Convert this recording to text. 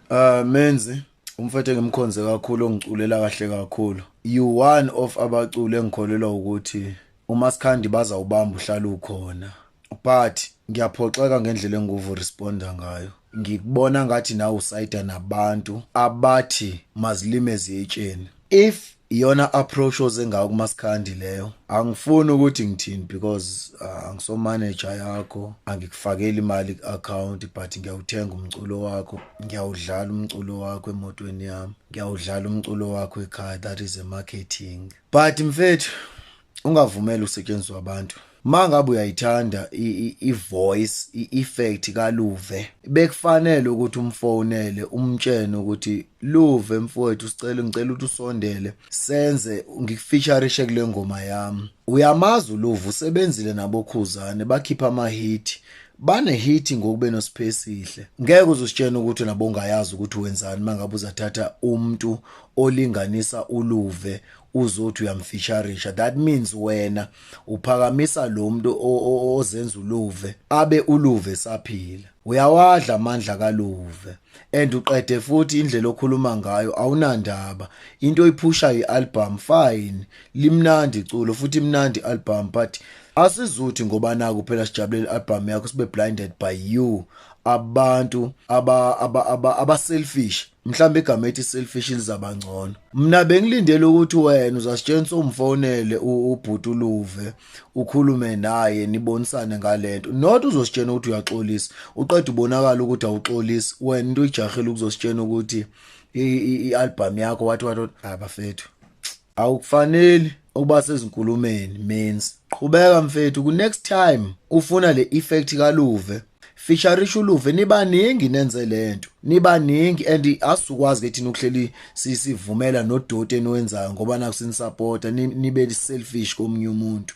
Uh menzi umfethu engimkhonze kakhulu ongiculela kahle kakhulu. You one of abaculi engikholelwa ukuthi uMasikhandi baza ubamba uhlala ukhona. But ngiyaphoxeka ngendlela enguvu responda ngayo. Ngikubona ngathi nawe usayida nabantu abathi mazilime ziyetsheni. If Iyona approach oze ngayo kuMasikhandi leyo. Angifuni ukuthi ngithini because uh, angiso manager yakho, angikufakeli imali ku-account but ngiyawuthenga umculo wakho, ngiyawudlala umculo wakho emotweni yami, ngiyawudlala umculo wakho ekhaya that is a marketing. But mfethu ungavumeli usetshenziswa abantu mangabe uyayithanda ivoice ieffect kaluve bekufanele ukuthi umfonele umtshene ukuthi luve mfowethu sicela ngicela ukuthi usondele senze ngikufeaturishe kule ngoma yami uyamazi uluvu usebenzile nabokhuzane bakhipha ama hit banehiti ngokube nosiphesihle ngeke uzusitshena ukuthi nabo ungayazi ukuthi wenzani mangabe uzathatha umuntu olinganisa uluve uzothi uyamfeaturisha that means wena uphakamisa lo muntu ozenza uluve abe uluve saphila uyawadla amandla kaluve and uqede futhi indlela okhuluma ngayo awunandaba into oyiphusha ialbum fine limnandi iculo futhi imnandi album but asizuthi ngoba naku phela sijabulela album yakho sibe blinded by you abantu aba aba aba, aba selfish mhlawumbe igama ethi selfish lizaba ngcono mina bengilindele ukuthi wena uzasitshengisa umfonele ubhuti uluve ukhulume naye nibonisane ngalento not uzositshena ukuthi uyaxolisa uqeda ubonakala ukuthi awuxolisi wena into ijahile ukuzositshena ukuthi i-album yakho wathi wathi abafethu Awukufaneli ukuba sezinkulumeni means. Qhubeka mfethu ku next time ufuna le effect kaLuve. Fisharisha uLuve nibaningi nenze lento. Nibaningi and asukwazi ke thina ukuhleli sisivumela nodoti eniwenzayo ngoba nakusinisupporta nibe selfish komunye umuntu.